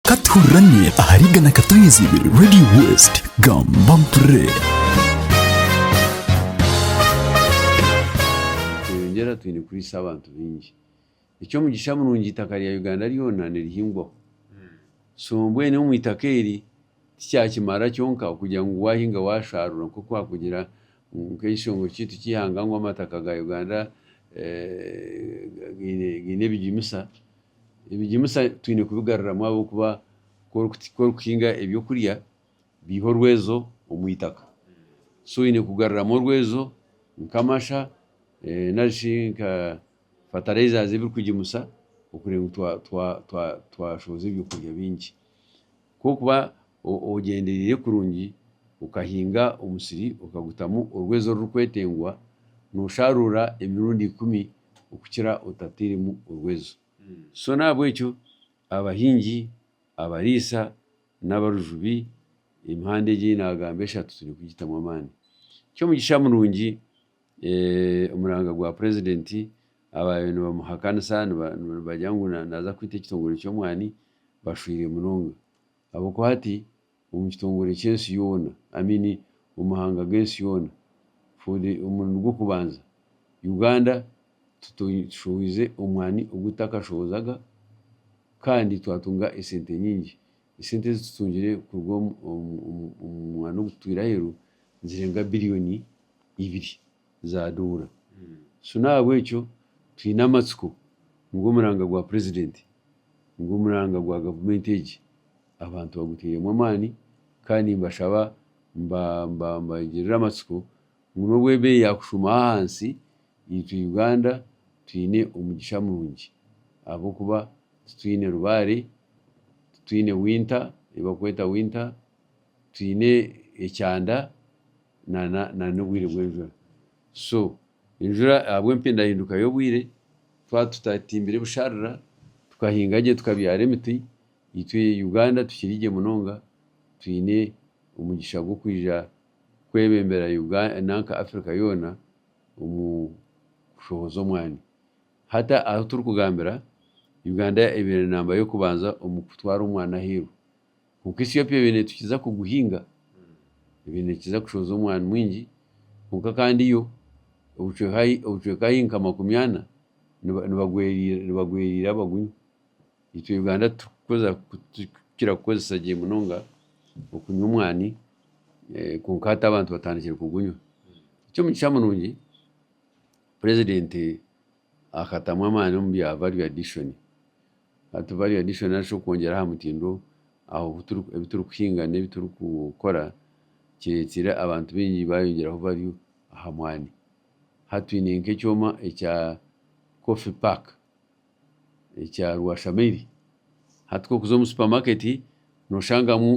Ka tuhurirane ahari igana Katoinzi ibiri Radio West. Gamba mpurire. Tweyongyera twine kuriisa abantu baingi. Eky'omugisha murungi eitaka rya Uganda ryona nirihingwaho. So mbwenu omu itaka eri tikyakimara kyonka okugira ngu waahinga waashaarura nk'oku waakugira ngu nk'ekishongore kyaitu ky'eihanga ngu amataka ga Uganda gaine gaine ebijumisa Ebigimusa twine kubigaruramu ahabw'okuba ku orikuhinga ebyokurya biiha orwezo omu itaka. So oine kugaruramu orwezo nk'amasha nari shi nka fatareiza ezirikugimusa kugira ngu twashohoza ebyokurya bingi. Ku orikuba ogyendereire kurungi, okahinga omusiri okagutamu orwezo orurikwetengwa, noosharuura emirundi ikumi okukira otateiremu orwezo. So n'ahabw'ekyo abahingi, abariisa n'abarujubi, emihanda egi ei naagamba eshatu twine kugitamu amaani. Ky'omugisha murungi omuranga gwa purezidenti abaabaire nibamuhakanisa nibagira ngu naaza kwita ekitongore ky'omwani bashweire munonga. Ahabw'okuba hati omu kitongore ky'ensi yoona, I mean omu mahanga g'ensi yoona, for the omurundi gw'okubanza, Uganda tushohoize omwani ogu tutakashohozaga kandi twatunga esente nyingi. Esente ezi tutungire kuruga omu mwani ogu tutwire aheeru nizirenga billion ibiri. zaaduura. So n'ahabw'ekyo twine amatsiko ngu omuranga gwa Purezidenti nigwo omuranga gwa gavumenti egi abantu baguteiremu amaani kandi nimbashaba mbagirire amatsiko ngu n'obu ebeeyi yaakushuuma ahansi, itwe Uganda twine omugisha murungi ahabw'okuba titwine rubaare, titwine winter, ei barikweta winter, twine ekyanda. na n'obwire bw'enjura. So enjura ahabw'empindahinduka y'obwire twaba tutatimbire busharira tukahinga gye tukabyara emiti, itwe Uganda tukiri gye munonga twine omugisha gw'okwija kwebembera nanka Africa yoona omu kushohoza omwani. Hati ahu turikugambira Uganda ebaire namba y'okubanza omu kutwara omwani ahairwe. Kwonka Ethiopia ebe neetukiza kuguhinga, ebe neekiza kushooza omwani mwingi, kwonka kandi yo obucweka ahi nka makumi ana nibagweriira abagunywa. Itwe Uganda turikukira kukozesa gye munonga okunywa omwani kwonka hati abantu batandikire kugunywa. Eky'omugisha murungi, president Akatamu amaani omu bya value addition. Hati value addition nari shi okwongyera aha mutindo ahu ebi turikuhinga n'ebi turikukora kireetsiire abantu baingi baayongyeraho value aha mwani. Hati twine nk'ekyoma ekya coffee pack ekya rwashamairi. Hati ku orikuza omu supermarket nooshangamu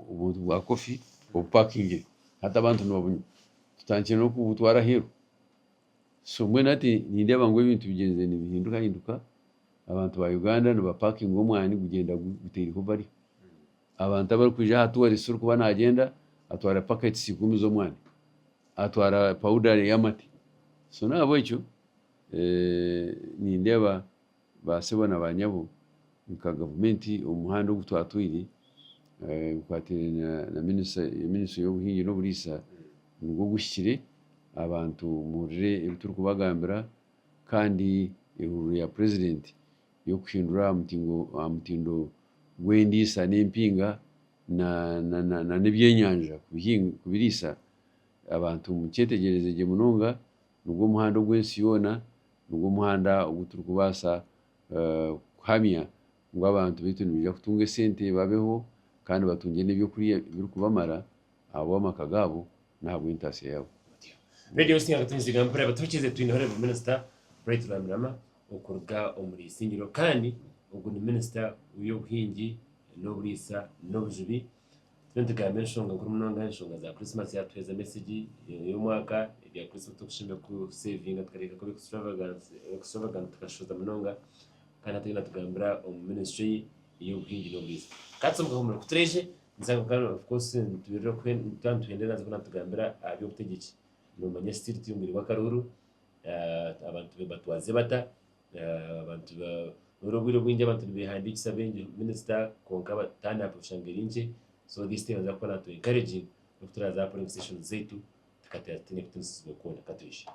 obuntu bwa coffee obupakingire hati abantu nibabunywa. tutandikire n'okubutwara aheeru. So mbwenu hati nindeeba ngu ebintu bigyenzire nibihindukahinduka, abantu ba Uganda nibapakinga omwani gugyenda gutaireho bari. Abantu abarikwija aha tourist orikuba nagyenda atwara packets ikumi z'omwani, atwara powder ey'amate. So nahabwekyo nindeeba baasebo na baanyabo nka gavumenti omu muhanda ogu twatwaire bikwataine na minisitule y'obuhingi n'oburiisa nigwo oguhikire abantu muhurire ebi turikubagambira kandi ehururu ya purezidenti y'okuhindura aha mutindo gw'endiisa n'empinga nana ebyenyanja kubiriisa abantu mukyetegyereze gye munonga nigwo muhanda ogw'ensi yoona, nigwo muhanda ogu turikubaasa kuhamya ngu abantu baitu nibaija kutunga esente babeho kandi batungye n'eby'okurya ebirikubamara ahabw'amaka gaabo n'ahabw'entaasya yaabo. Radio Station Akatungiirira Mpore Abatuhikiirize Twineho Rev Minister Bright Rwamirama okuruga omuri Isingiro kandi ogu ni Minister w'eby'obuhingi n'oburiisa n'obujubi Turiyo nitugamba enshonga nkuru munonga, enshonga za Christmas yatuheereza mesegi ey'omwaka, ebya Christmas turikushemererwa kuseevinga tukareeka kuba extravagant tukashoza munonga kandi hati ariyo natugambira omu ministry ye ey'obuhingi n'oburiisa. Katsi omu kahumuro kutureije nzanga kuba of course nituberera twaba nituhendera naza kuba natugambira aha by'obutegyeki, noomanya still turi omu bwire bw'akaruuru, abantu batwaze bata, Buri obwire obwingi abantu nibehandiikisa baingi minisita kwonka turnout oshanga eri nkye so this time nibaza kukora ngu tu encouraging n'oku turaza kukora omu sessions zaitu tukateera tutaine kutinisiibwa kwona. Ka twije.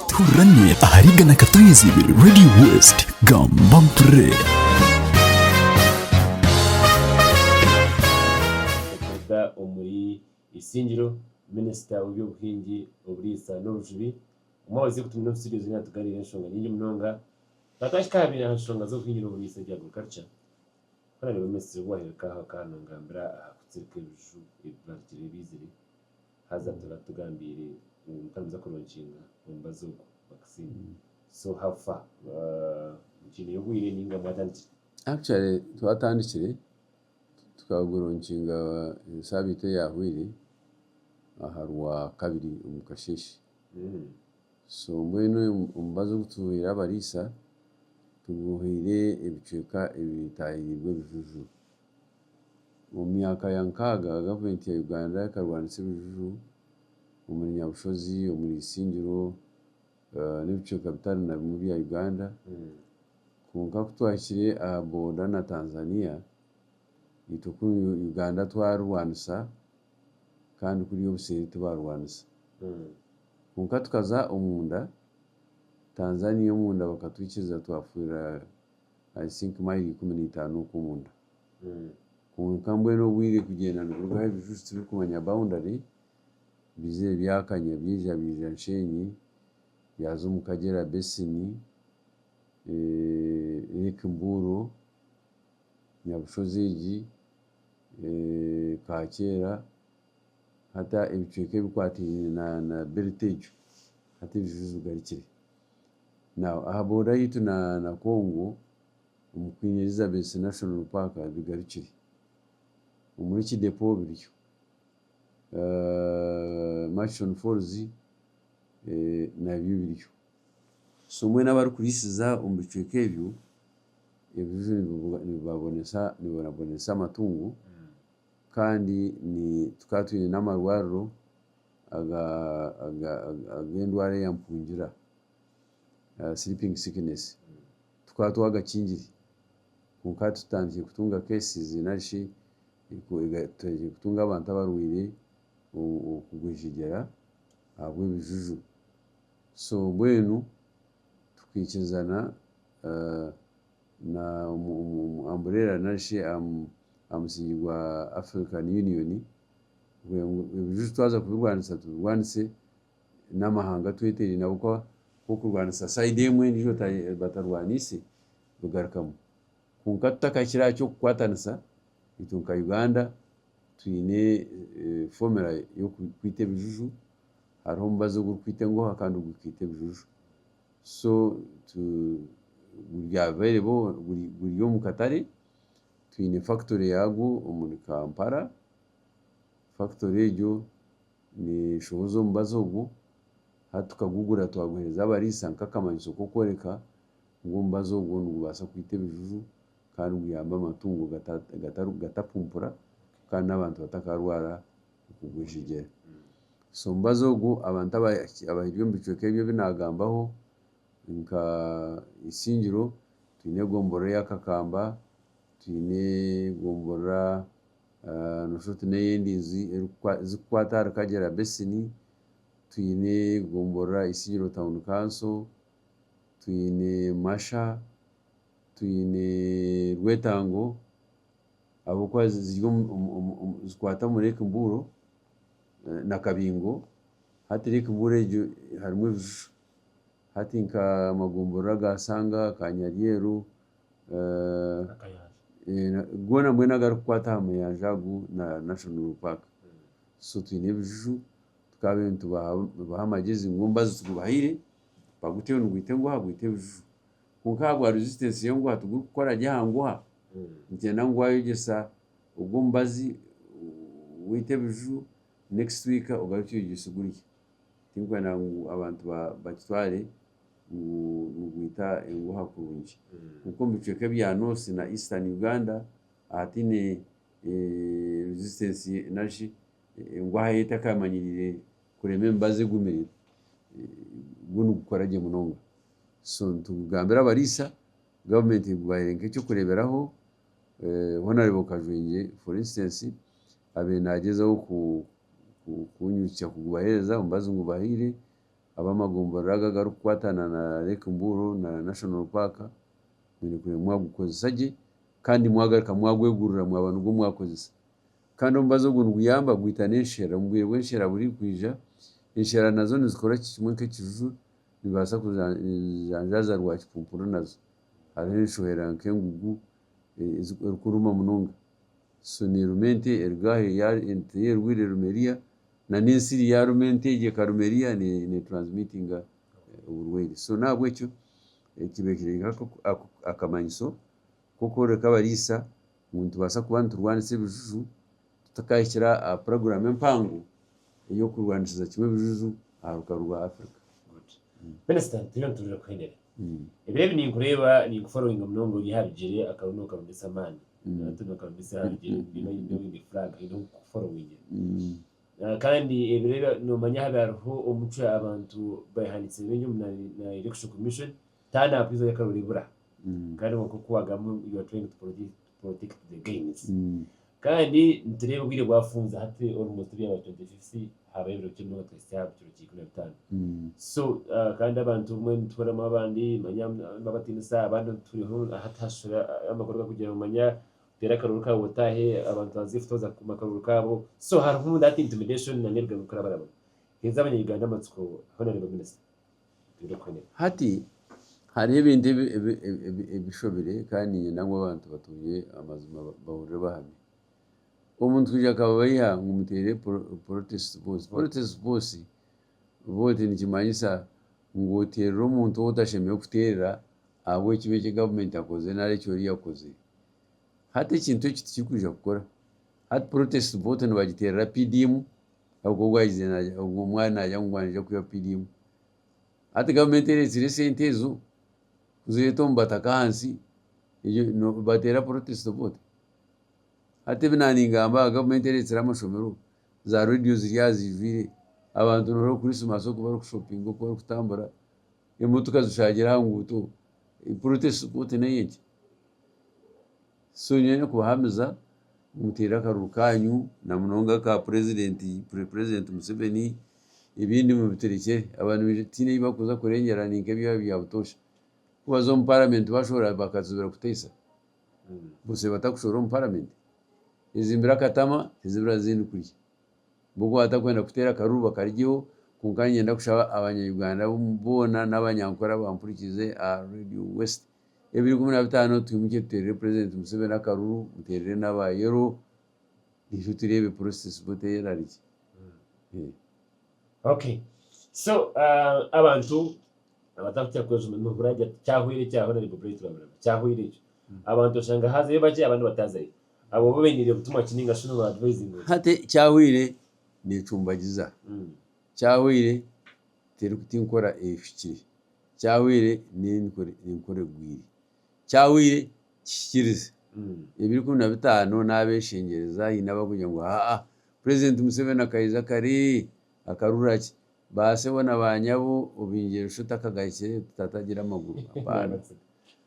Tururamye ahari Igana Ka Twije ibiri Radio West. Gamba mpurire. Okuruga omuri Isingiro, Minisita w'eby'obuhingi, oburiisa n'obujubi, Obumwe abazaire kutumira obusingye nikiija kutugambira enshonga nyingi munonga. Kwonka twahika aha biine aha nshonga z'okuhinyurira omuriisa ebya agriculture, ku naareeba omumisiri ogu waahirika aha ka nangambira aha kutsirika ebiju ebi baarugire baizire, haza atuura atugambiire ngu muka nibaza kuronkinga omubazi ogwo, vaccine. So how far? Mukyineyo obwiire ninga mwatandikire? Actually twatandikire, tukaguronkinga esaabiiti eyahweire aha Rwakabiri omu kasheeshe. So mbwenu omubazi ogu tuhaire abariisa tuguhaire ebicweka ebitaahirirwe ebijuju. Omu myaka ya nkaaga gavumenti ya Uganda ekarwanisa ebijuju omuri Nyabushozi, omuri Isingiro n'ebicweka bitari na bimwe bya Uganda. Kwonka ku twahikire aha booda na Tanzania, itwe ku Uganda twarwanisa kandi kuriya obuseeri tibarwanisa. Kwonka tukaza omunda, Tanzania omunda bakatwikiriza twafiirira I think mayiro ikumi n'eitaano okwo omunda. Kwonka mbwenu obwire kugyenda niburugaho ebijuju tibirikumanya boundary, biizire byakanya byaija biija Nshenyi, byaza omu Kagyera Basin, Lake Mburo. Nyabushozi egi kakyera hati ebicweka ebikwataine na belt egyo hati ebizizi bigarukire. Now aha boda yaitu na Congo omu Queen Elizabeth National Park bigarukire. Omuri Kidepo biriyo, Murchison Falls nabyo biriyo. So mbwenu abarikuriisiza omu bicweka ebyo, ebizizi nibibabonesa amatungo kandi tukaba twine n'amarwariro ag'endwara ya mpungira, sleeping sickness, tukaba twagakingire kwonka tutandikire kutunga cases nari shi tutandikire kutunga abantu abarwaire okugwejegyera ahabw'ebijuju. So mbwenu tukaikirizana na omu umbrella nari shi aha musingi gwa African Union ebijuju twaza kubirwanisa tubirwanise n'amahanga agu tweteeraine ahabw'okuba ku orikurwanisa side emwe endiijo batarwaniise bigarukamu. Kwonka tutakakira aha ky'okukwatanisa itwe nka Uganda twine formula y'okwita ebijuju hariho omubazi ogurikwita engoha kandi ogurikwita ebijuju. So guri omu katare, twine fakitory yaagwo omuri Kampala. Fakitory egyo neeshohoza omubazi ogwo, hati tukagugura twaguheereza abariisa nk'akamanyiso k'okworeka ngu omubazi ogwo nigubaasa kwita ebijuju. kandi guyambe amatungo gatapumpura kandi n'abantu batakarwara okugwejegyera. So omubazi ogu abantu abahikire omu bicweka ebi ebi naagambaho nka Isingiro twine gomborora eya Kakamba, twine gomborora noshusha oti n'eya Endinzi zikukwata ahari Kagyera Basin, twine gomborora Isingiro Town Council, twine Masha. Twine rwetango ahabw'okuba zikwata omu Lake Mbuuro na Kabingo. Hati Lake Mbuuro egyo harimu ebishushani hati nka amagombora ga Sanga, Kanyaryeru, goona mbwenu agarikukwata aha muyanja agu na National Park. So twine ebishushani tukaba nitubaha amagezi ngu embazo tugibahaire, baguteyo nigwita enguha gwite ebishushani. Kwonka ahabwa resistance ye ngu hati gurikukora gye aha nguha, nikyenda ngu waayegyesa ogwo omubazi waita ebiju, next week ogarukye oyegyese ogurye. Tirikwenda ngu abantu bakitware ngu nigwita enguha kurungi. Kwonka omu bicweka ebya North na Eastern Uganda ahataine resistance nari shi enguha ye etakaamanyiriire kurema emibazi egumire, gwo nigukora gye munonga. so nitugambira abariisa, government egubaire nk'ekyokureeberaho hoona oreeba kajwengye for instance abaire nagyezaho kunyijukya kugubahereza omubazi ngubahaire, abamagomborora ago agarikukwatana na lake mbuuro na national park mwine kureeba mwagukozesa gye kandi mwagaruka mwagwegurira mwaba nigwo mwakozesa kandi omubazi ogwo niguyamba gwita n'ensherera omubwire bw'ensherera burikwija ensherera nazo nizikora ki kimwe nk'ekijuju. Nibaasa kujanjaaza rwakipupuri nazo. Hariho enshohera nk'engugu erikuruma munonga. So neeruma ente erugaaha yaarya ente ei erwaire eruma eriya, na n'ensiri yaaruma ente egyo ekaruma eriya ne transmitinga oburwaire. So n'ahabw'ekyo kiba kiri nk'akamanyiso k'okworeka abariisa ngu nitubaasa kuba niturwanisa ebijuju Tutakahikira aha puroguramu empango ey'okurwanisiza kimwe ebijuju aha rukaru rwa Afrika. Good. Minister, twine nituruga kuhenera. Ebiro ebi ninkureeba, ninkufollowinga munonga ori aha bigyere akabi nokarumbisa amaani. Hati nokarumbisa aha bigyere bwine bwine bwine flag haine oku kukufollowingira. Kandi ebiro ebi nomanya habi hariho omucwe abantu behandikize baingi omu na na Election Commission, taanaakwiija okarora ebura. Kandi kwonka oku wagamba you are trying to protect protect the gains kandi nitureeba obwire bwafunza hati almost ebyaba 2050 habayo ebiro bikye munonga tuhitsye aha kiro kya ikumi na bitaano so kandi abantu obumwe nituhuriramu abandi manya nibabatiinisa abandi turiho hati hashusha amakuru gakugira ngu manya teera akarooro kaawe otaahe abantu baanzire kutooza kukuuma akarooro kaabo so hariho that intimidation na n'ebigambo bikurabarabura haiza abanya-Uganda amatsiko honourable minister Hati hariho ebintu ebishobire kandi niinyenda ngu abantu batuurire amazima bahurire bahamye. Omuntu kwija akababeiha ngu muteere porotesiti vooti. Porotesiti vooti nikimanyisa ngu oteerera omuntu ou otashemereire kuteerera ahabw'ekibi eki gavumenti ekoze nari eki oriya akozire. Hati ekintu eki tikirikwija kukora. Hati protest vote nibagiterera PDM ahabwokuba ogu ayize ogu ari nagira ngu ngu niija kwiha PDM. Hati government ereetsire esente ezo kuzireeta omu bataka ahansi egyo no- bateera protest vote. Hati ebi naaningamba aha government ereetsire amashomero, za radio ziri aha zijwire, abantu noreeba Christmas oku bari ku shoppinga oku bari kutambura, emotoka zishaagira aha nguuto, protest vote n'ey'enki? So nyowe ny'okubahamiza mutaire akaruru kanyu na munonga aka purezidenti, pre president, Museveni ebindi mubiturekyere aba nibaija tihaine ebi bakuza kurengyera ninka ebyabo bya butoosha ku baza omu paramenti bashohora bakazibira kuteisa butsya batakushohora omu paramenti ezimbire akatama tizibira zindi kurya bo ku batakwenda kuteera akaruru bakarigyeho kwonka niinyenda kushaba abanya Uganda boona n'abanyankore abampurikiize aha radio west. ebiri ikumi na bitaano twimukye tuteerere purezidenti Museveni akaruru muteerere n'aba yero itwe tureebe purosesi bote erari ki. Okay so abantu abatarikukira kwega omu murimo hurira agira ati kyahwera ekya honarebo Brian Turahurana kyahwera ekyo abantu oshanga hazayo bakye abandi batazayo abo bo beiniire butumwa ki ninga shi nooba advisinga ota? Hati ekyahwire neecumbagiza Kyahwaire terikuta enkora ehikire, kyahwaire n'enkora egwire, kyahwaire kihikirize. Ebiro ikumi na bitaano n'abeshengyereza haine abarikugira ngu haa purezidenti Museveni akaija kare akarurira ki? Ba sebo na ba nyabo obeingyire Lushoto akagahikire tata agira amaguru.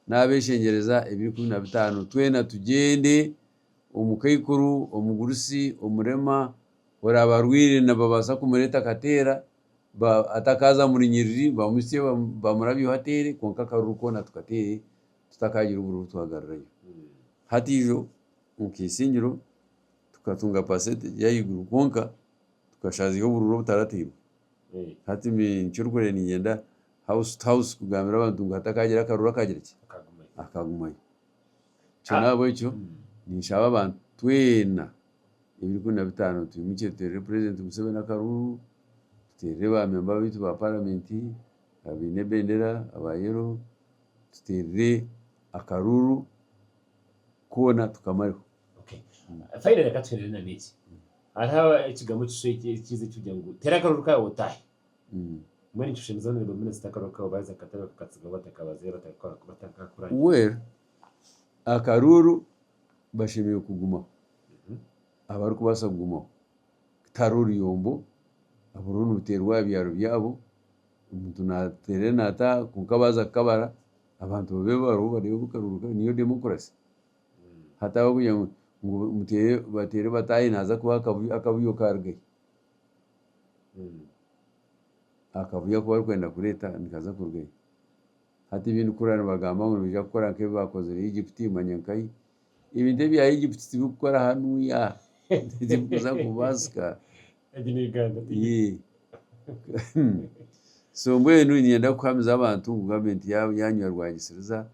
N'abeshengyereza ebiro ikumi na bitaano twena tugyende. omukaikuru, omugurusi, omurema, oraaba arwaire nibabaasa kumureeta akateera, atakaaza muri nyiriri bamutsye bamurabyeho ateere kwonka akaruru koona tukateere tutakaagira obururu twagarurayo. Hati ijo nka isingiro tukatunga percent egi ey'ahaiguru kwonka tukashaaziiha obururu obutarateirwe. Hati eky'orikureeba niinyenda house to house kugambira abantu ngu hatakaagira akaruru akagira ki? Akagumayo. Nikyo nahabwekyo ninshaba abantu twena ebiri ikumi na bitaano twimukire tuteerere purezidenti Museveni akaruru, tuteerere ba memba baitu ba paramenti abaine ebendera aba yero, tuteerere akaruru koona tukamareho. Finally katuheerere na n'eki, hariho ekigambo ekishwekye ekiija ekiri kugira ngu teera akaruru kaawe otaahe. Well akaruuru bashemereire kugumaho abarikubaasa kugumaho tihariho oruyombo buriho nibuteerwa aha byaaro byaabo omuntu nateera nataaha kwonka baaza kukabara abantu babe bariho nibareeba akaruuru kaabo niyo demokurasi hataho kugira ngu bateere bataahe naaza kubaha akabuyo kaarugayo akavuyo aku barikwenda kureeta nikaza kuruga ahi? Hati ebi ndikuhurira nibagamba ngu nibaija kukora nk'ebi baakozire Egypt manya nkahi? Ebintu ebya Egypt tibikukora hanu ya tibikuza kubaasika. So mbwenu niinyenda kuhamiza abantu ngu gavumenti yaanywa rwagisiriza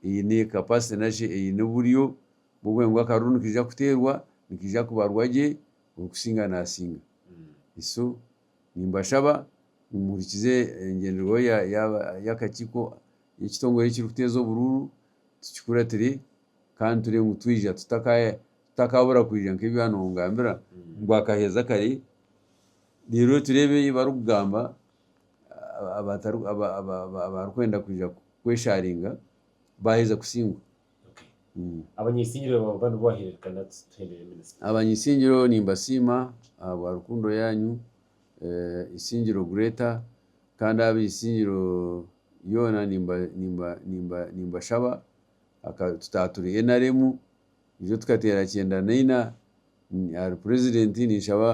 eine capacity nari shi eine oburyo bw'okugira ngu akaruuru nikaija kuteerwa, nikaija kubarwa gye. orikusinga naasinga. Iso, nimbashaba ngu muhurikize engyenderwaho y'akakiiko y'ekitongore ekirikuteeza oburuuru, tukikuratire kandi turebe ngu twija tutakaabura kwija nk'ebi waaba noongambira ngu akaheeza kare, reero tureebe ei barikugamba abarikwenda kwija kweshaaringa baaheza kusingura. Abanyisingiro nimbasiima ahabwa rukundo yaanyu, Isingiro Gretta, kandi ab'eisingiro ryoona nimbashaba tutaaba turi nrm nijo tukateera kyenda na ina ahari purezidenti ninshaba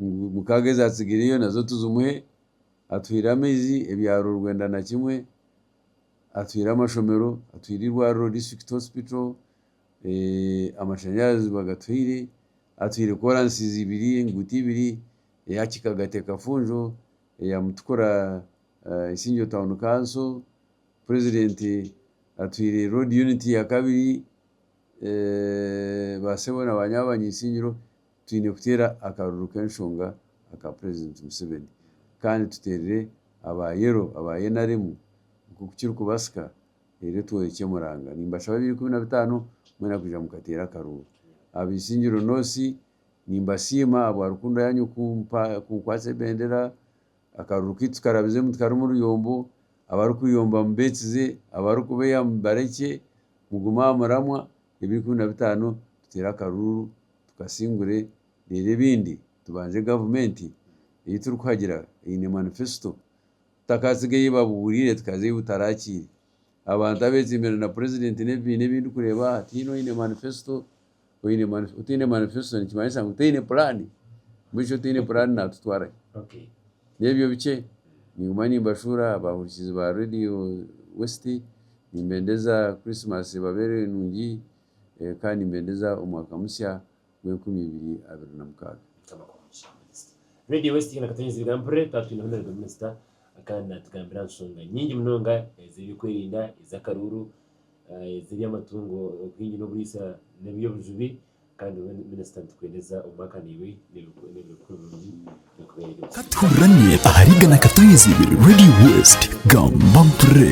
ngu mukaaga ezaatsigireyo nazo tuzimuhe, atuhaire amaizi, ebyaro rwenda na kimwe, Atwire amashomero, atwire eirwariro district hospital, amashanyarazi bagatwire, atwire kolansizi ibiri, enguuto ibiri, eya Kikaga Tekafunjo, eya Mutukura Isingiro town council, president atwire road unit ya kabiri, ba sebo na ba nyabanywa Isingiro. Twine kuteera akaruru k'enshonga aka Purezidenti Museveni kandi tuteerere aba Yellow, aba nrm nk'oku kirikubasika reero tworekye omuranga. Nimbashaba ebiro ikumi na bitaano mwena kwija mukateera akaruuru. Aba Isingiro North nimbasiima ahabwa rukundo yaanyu kunkwatsa ebendera. Akaruru kaitu tukarabizemu tikarimu ruyombo. Abarikweyomba mubeetsize, abarikubeeya mubarekye. Mugume aha muramwa. ebiri ikumi na bitaano tuteere akaruuru tukasingure reero ebindi tubanze gavumenti ei turikuhagira eine manifesito tutakaatsiga ei babuuriire tukaza ei butarakiire abantu abetsimbire na purezidenti n'ebibiina ebi ndikureeba aha tihaine oine manifesito otaine manifesito nikimanyisa ngu taine puraani mbwenu shi otaine puraani naatutwara hi? N'ebyo bikye, ninguma nimbashuura abaahurikizi ba Radio West, nimbendeza Christmas ebabeere nungi kandi nimbendeza omwaka musya gw'enkumi ibiri abiri na mukaaga. Mukama akuhe omugisha Minisita. Radio West Igana Katonyezibwa mpurire tukaba twine Honore the Minister kandi naatugambira aha nshonga nyingi munonga ez'eby'okwerinda, ez'akaruuru, ez'eby'amatungo, obuhingi n'oburiisa n'eby'obujubi. Kandi iwe Minisita nitukuheereza omu maka naiwe n'ebiro bikuru birungi nitukuheerera ekitiinisa. Tuhurrane ahari Igana Kataizi Radio West. Gamba mpurre!